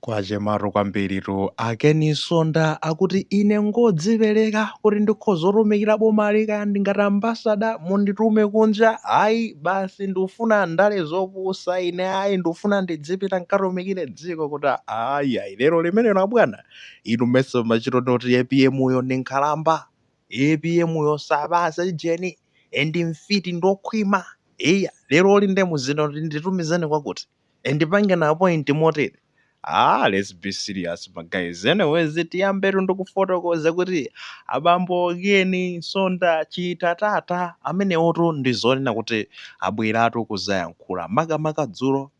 Kwachematu kwambiritu a Ken Nsonda akuti ine ngodzipereka kuti ndikhoza kutumikira bomali kaya ndi ngati ambassador munditume kunja ayi basi ndikufuna ndale zopusa ine ayi ndikufuna ndidzipita nkatumikire dziko kuti ayi ayi lero limenelo abwana inu mesa munkachita kuti APM yo ndi nkhalamba APM yo sapatsa ujeni and mfiti ndokhwima eya lero loli nde muzinena kuti nditumizeni kwakuti and ndipangeni appoint motere ah let's be serious ma guys anyways tiyambetu ndikufotokoza kuti abambo Ken Nsonda Chitatata amenewotu ndi zonena kuti abweratu kuzayankhula makamaka dzulo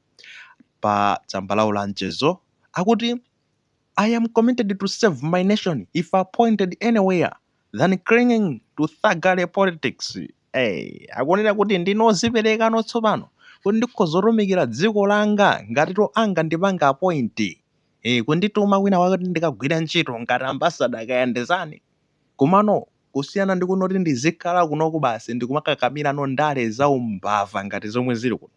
pa tsamba lawo la mchezo akuti I am committed to serve my nation if appointed anywhere than clinging to thuggery politics. Eeh, akunena kuti ndine oziperekano tsopano kuti ndikhoza kutumikira dziko langa ngatitu angandipange appoint, eeh, kundituma kwina kwake kuti ndikagwire ntchito ngati ambassador kaya ndi zinazani komano kusiyana ndi kunoti ndizikhala kunoku basi ndikumakakamira ndale zaumbava ngati zomwe zili kuno.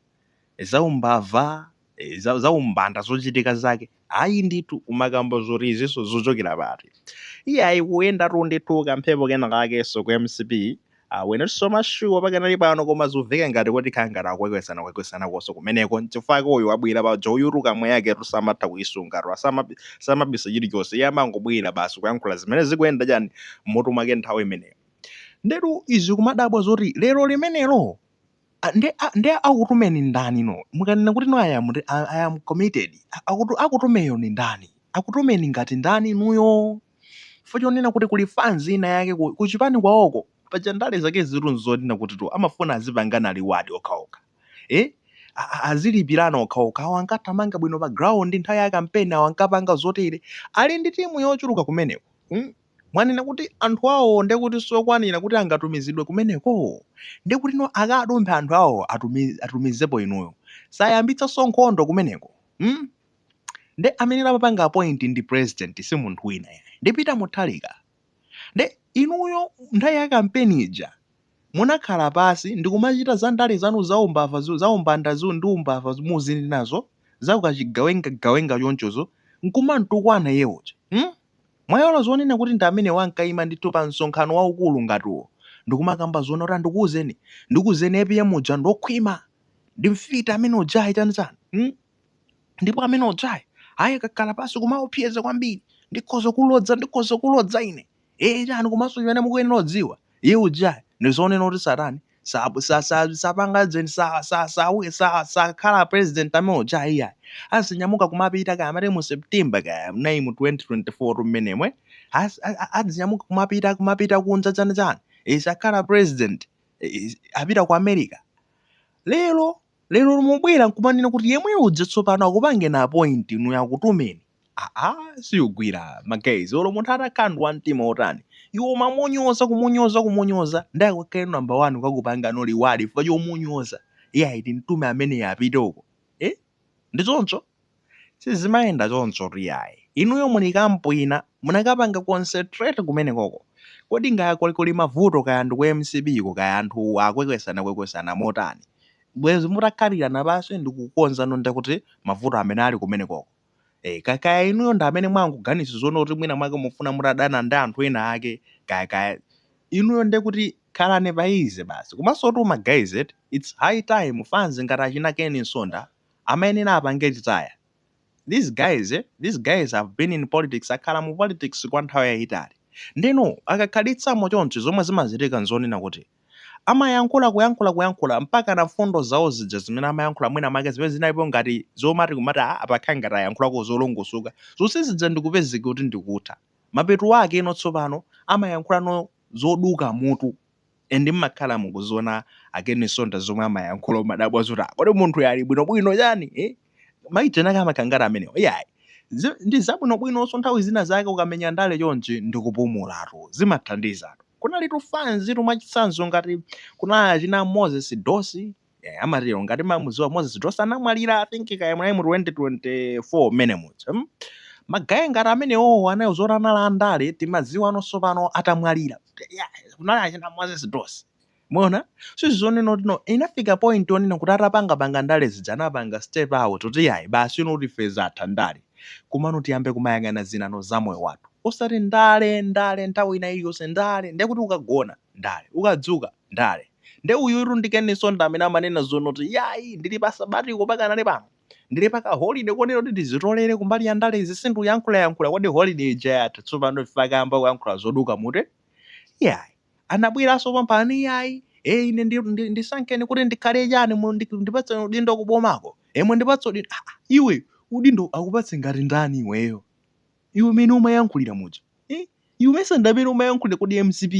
zaumbava, za, zaumbanda zochitika zake ayi ndithu kumakamba zoti izinso zochokera pati iye ayi kuyenda tu ndithu kamphepo kena kakenso ku mcp Uh, we're not so much sure pakanali pano koma zuveka ngati kuti khala ngati akwekwesana kwekwesana konso kumeneko nchifukwa ke uyu wabwera poyeratu kamwa yake tu samatha kuyisunga tu asamabi- samabisa chilichonse iye amangobwera basi kuyankhula zimene zikuyenda chani mmutu mwake nthawi imeneyo ndetu zikumadabwa zoti lero limenelo nde nde akutumeni ndani no mukanena kuti no i am i am committed akutu akutumeyo ni ndani akutumeni ngati ndani inuyo for chonena kuti kuli fans ina yake ku, ku chipani kwaoko paja ndale zake zitu nzonena kutitu amafuna azipangana reward okhaokha eh azilipirana okhaokha awo ankathamanga bwino pa ground nthawi ya kampeni awo ankapanga zotere ali ndi timu yochuluka kumeneko mm? Mwanena kuti anthu awowo ndiye kuti siokwanira kuti angatumizidwe kumeneko? Ndiye kutino akadumphe anthu awowo atumize atumizepo inuyo siayambitsanso nkhondo kumeneko mm nde amene amapanga appoint ndi president si munthu wina ayi ndi Peter Mutharika nde inuyo nthawi ya kampeni ija munakhala pansi ndikumachita za ndale zanu za umbava zu- za umbanda zu ndi umbava zu- muzili nazo za ukachigawenga gawenga chonchozo nkumantukwana iye uja mm? Mwaiwala zonena kuti ndi amenewo ankaima ndithu pa msonkhano waukulu ngati uwo ndikumakamba zonena kuti ah ndikuuzeni ndikuuzeni APM uja ndi okhwima ndi mfiti amene ujayi chani chani hmm? ndipo amene ujayi ayi kukhala pansi kumaopseza kwambiri ndikhoza kukulodza ndikhoza kukulodza ine ee chani komanso chimene mukuyenera kudziwa iye ujayi ndi zonena kuti satani sa sa sa sapanga zeni sa sa sa sa sakhala president amene uja iyayi azinyamuka kumapita kaya amati mu september kaya mnayi mu 2024 mmenemwe As- a- a- azinyamuka kumapita kumapita kunja chani chani sakhala president is- apita ku america lero Lero mubwera nkumanena kuti yemweyudzu tsopano akupangeni appoint inuyo akutumeni. Aaa siugwira ma guys olo munthu atakhala ndi wamtima otani iwe umamunyoza kumunyoza kumunyoza nde akakhalenso number 1 kukakupangano reward chifukwa chomunyoza iyayi timtume ameneyo apite uko eh ndi choncho? Sizimayenda chonchotu iyayi. Inuyo muli ku camp ina, munakapanga concentrate kumenekoko. Kodi kaya kuli kuli mavuto kaya ndi ku mcp ko kaya anthu akwekwesana kwekwesana motani. Bwezi mutakhalirana pansi ndi kukonza no nde kuti mavuto amene ali kumenekoko. Eh, ka kaya inuyo ndi amene mwangoganiza zoona kuti mwina mwake mufuna mutadana ndi anthu ena ake kaya kaya. Inuyo nde kuti khalani pa easy basi. Komansotu ma guys eti, it's high time fans ngati achina Ken Nsonda amayenera apange retire these guys these guys have been in politics akhala mu politics kwa nthawi yayitali ndeno akakhalitsamo chonchi zomwe zimachitika nzonena kuti amayankhula kuyankhula kuyankhula mpaka na mfundo zawo zija zimene amayankhula mwina make zimene zinalipo ngati zomati kumati ah pakhala ngati ayankhulako zolongosoka zonse zija ndikupezeka kuti ndikutha mapeto akeno tsopano amayankhulano zoduka mutu and mmakhala mukuziona a Ken Nsonda zomwe amayankhula umadabwa zoti "Ah, kodi munthuyu ali bwinobwino chani eh? ma itchinaka amakangati amenewo iyayi Zi- ndi zabwinobwinonso nthawi zina zake ukamenya ndale chonchi ndi kupumulatu zimathandizatu kunalitu fans tu mwachitsanzo ngati kunali achina moses dosi yeah, amatero ngati mamuziwa moses dosi anamwalira I think kaya mwayi mu 2024 mmene muja mm? ma guy ngati amenewowo anayiwala zoti anali andale timaziwanonso pano atamwalira Yeah, kunali achina moses dosi mona so nzonena kuti no inafika point onena kuti atapangapanga ndale zija anapanga step out kuti yayi basi ino kuti phase yatha ya ndale komano tiyambe kumayang'ana zinano za moyo wathu osati ndale ndale nthawi ina iliyonse ndale ndekuti ukagona ndale ukadzuka ndale nde uyutu ndi ken nsonda amene amanena zonoti iyayi ndili pa sabbatical pakanali pano ndili pa ka holiday kuonera kuti ndizitolere kumbali ya ndalezi sindikuyankhulayankhula kodi holiday ija yatha tsopano chifukwa akayamba kuyankhula zoduka mutu iyayi anabweraso pompano iyayi e ine ndi, ndi, ndisankeni kuti ndikhale chani mu- ndi- ndipatseni udindo kubomako emwe ndipatse udindo ah, ah, iwe udindo akupatse ngati ndani iweyo iwe mene umayankhulira muja eh? iwe mesa nde mmene umayankhulira kodi mcp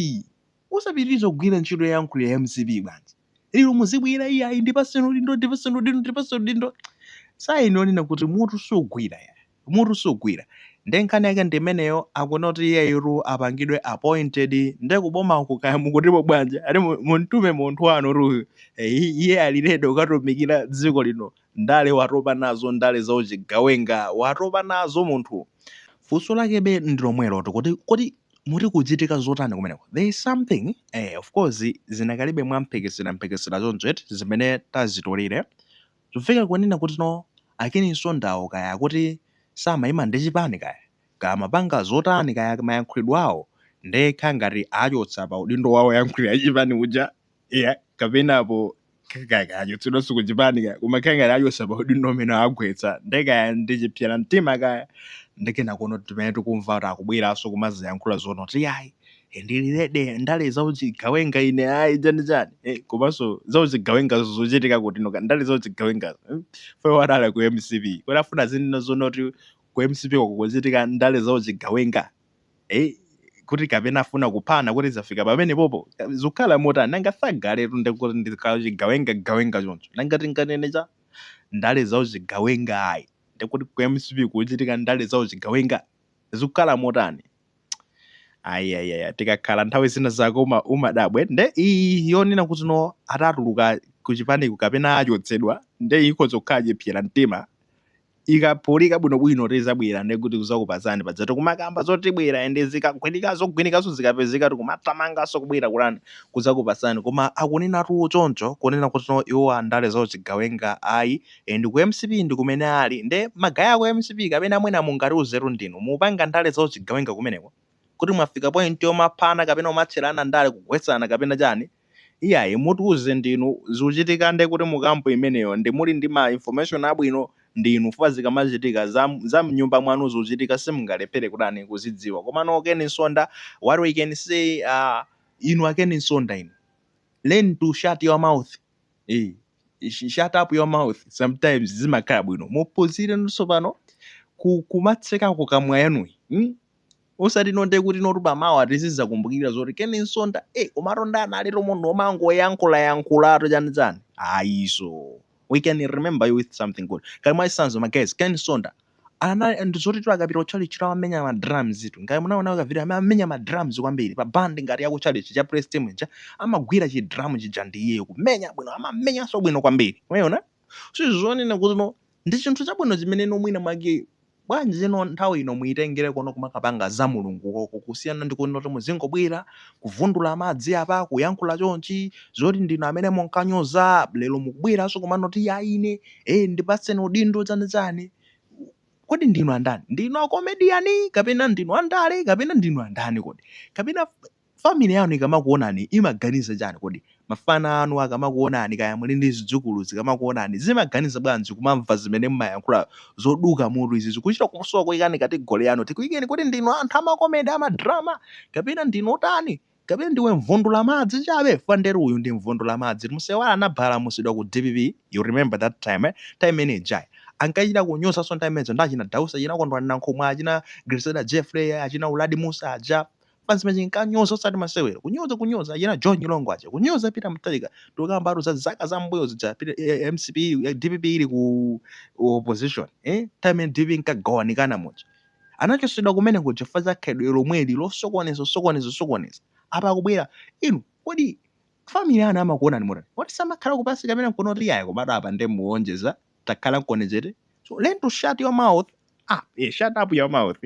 Usapitirize kugwira ntchito yoyankhulira mcp bwanji? Lero muzibwera iyayi ndipatseni udindo sign yonena kuti mutu sugwira mutu sugwira nde nkhani yake ndimeneyo akuna kuti iyeyitu apangidwe appointed nde kubomaku kaya mukutipo bwanji ati muntume munthu wanutuyu Eh, iye ali ready kukatumikira dziko lino ndale watopa nazo ndale za uchigawenga watopa nazo munthu funso lakebe ndilomwelo kuti kuti muti kuchitika zotani kumeneko there is something eh, of course zinakalibe mwamphekesera mphekesera choncho eti zimene tazitolere zofika kunena kuti no a Ken Nsondawo kaya kuti samayima ndi chipani kaya kaya amapanga zotani kaya mayankhulidwe awo nde akhala ngati achotsa pa udindo wa woyankhulira chipani uja iya kapenapo achotsedwanso ku chipani kaya koma akhala ngati achotsa pa udindo umene agwetsa nde kaya ndi chiphyera mtima kaya ndi chani koma mmene tikumva kuti akubweranso kumaziyankhula zonoti ayi eh, ndili ready ndale zauchigawenga ine ayi chani chani Eh, komanso zauchigawenga zochitika kutiko ndale zauchigawenga fukwa adali ku mcp kuti afuna azinena zonoti ku mcp kukuchitika ndale zauchigawenga Ei, kuti kapena afuna kuphana kuti zafika pamenepopo? Zikukhala motani? Nanga Sadc'letu nde kuti ndi kachigawenga gawenga choncho. Nanga tinganene cha ndale za uchigawenga ayi. Nde kuti ku mcp kukuchitika ndale za uchigawenga? Zikukhala motani? Ayi ayi ayi tikakhala nthawi zina zako umadabwa nde iyi yonena kuti no atatuluka ku chipaniku kapena achotsedwa nde ikhoza kukhala chiphyera mtima ikaphulika bwino bwino tizabwera nde kuti kuzakupasani paja tikumakamba zoti tibwera ende zikagwinika zogwinikaso zikapezeka tikumathamangaso kubwera kutani kuzakupasani koma akunenatu choncho kunena kuti no iwo andale za uchigawenga ayi and ku mcp ndikumene ali nde ma guy aku mcp kapena mwina mungatiuzetu ndinu mupanga ndale za uchigawenga kumeneko kuti mwafika point yomaphana kapena kumatcherana ndale kugwetsana kapena chani iyayi mutiuze ndinu zikuchitika nde kuti mu camp imeneyo nde muli ndi ma information abwino ndinu chifukwa zikamachitika za mnyumba mwanu zikuchitika simungalephere kutani kuzidziwa komano a Ken Nsonda what we can say uh, inu a Ken Nsonda inu learn to shut your mouth eh, shut up your mouth sometimes zimakhala bwino muphunzirenso pano kumatsekako kamwa yanuyi mm? Osati no nde kuti no tu pamawa tizizakumbukira zoti Ken Nsonda eh komatu uja analitu munthu omangoyankhula yankhulatu chani chani ayiso we can remember you with something good ngati mwachitsanzo ma guys Ken Nsonda ndi zoti akapita ku church amamenya ma drums tu ngati munaona ka video amamenya ma drums kwambiri pa band ngati ya ku church cha praise team ija amagwira chi drum chija ndi iyeyo kumenya bwino amamenyanso bwino kwambiri umaona zonena kuti no Ndi chinthu chabwino chimene inu mwinamwake. Bwanji, you know, nthawi ino muitengere kuno kumakapanga za Mulungu koko, kusiyana ndi kunoti muzingobwera, kuvundula madzi apa, kuyankhula chonchi, zoti ndinu amene munkanyoza, lero mukubweranso kumanoti, Ya, ine, eh, ndipatseni udindo, chani chani. Kodi ndinu andani? Ndinu akomediyani, kapena ndinu andale, kapena ndinu andani kodi? Kapena Family yanu ikamakuonani imaganiza chani kodi? Mafana anu akamakuonani kaya muli ndi zidzukulu zikamakuonani zimaganiza bwanji kumamva zimene mumayankhula zoduka mutu izi tikuchita kusowa kuyikani category yanu tikuyikeni kuti ndinu anthu amakomedy amadrama kapena ndinu otani kapena ndiwe mvundula madzi chabe fwa nderu uyu ndi mvundula madzi musaiwale anabalamusidwa ku dpp you remember that time time imene ija ankachita kunyozanso time imenezo ndi achina Dausi achina Kondwani Nankhumwa achina Grezelder Jeffrey achina Uladi Mussa aja basi zimene chinkanyoza osati masewero kunyoza kunyoza achina john nyilongo aja kunyoza peter mutharika tikukambatu za zaka za mbuyo zija Peter- eh, eh, mcp ili- eh, dpp ili ku opposition eh? time imene dpp inkagawanikana muja anachosedwa kumene kuja fa za khalidwe lomweli losokoneza losokoneza losokoneza apa akubwera inu kodi family ana amakuonani motani kodi samakhalako pansi kamene nkunoti iyayi koma dad apa nde muonjeza takhalankoni chete so learn to shut your mouth up yeah, shut up your mouth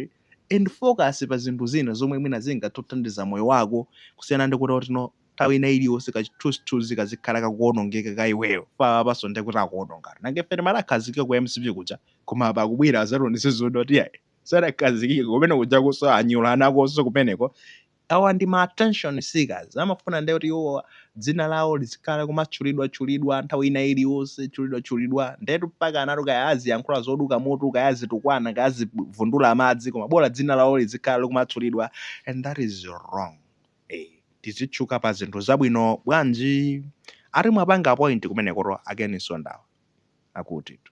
and focus pa zinthu zina zomwe mwina zingathandize moyo wako kusiyana ndi kuti kuti no nthawi ina iliyonse kachithunzithunzi kazikhala kakuonongeka ka iweyo fa apanso nde kuti akuonongatu nanga ife timati akhazikika ku mcp kuja koma apa akubwera azationetse zoti yayi sadakhazikike kumene kujakonso anyula anakonso kumeneko Awa ndi ma attention seekers, amafuna nde kuti iwowa dzina lawo lizikhala likumatchulidwa tchulidwa nthawi ina iliyonse, tchulidwa tchulidwa, ndetu mpakanatu kaya aziyankhula zoduka mutu, kaya azitukwana, kaya azivundula madzi koma bola dzina lawo lizikhala likumatchulidwa and that is wrong. Eeh tizitchuka pa zinthu zabwino bwanji? Ati mwapanga appoint kumenekotu a Ken Msonda awa akutitu.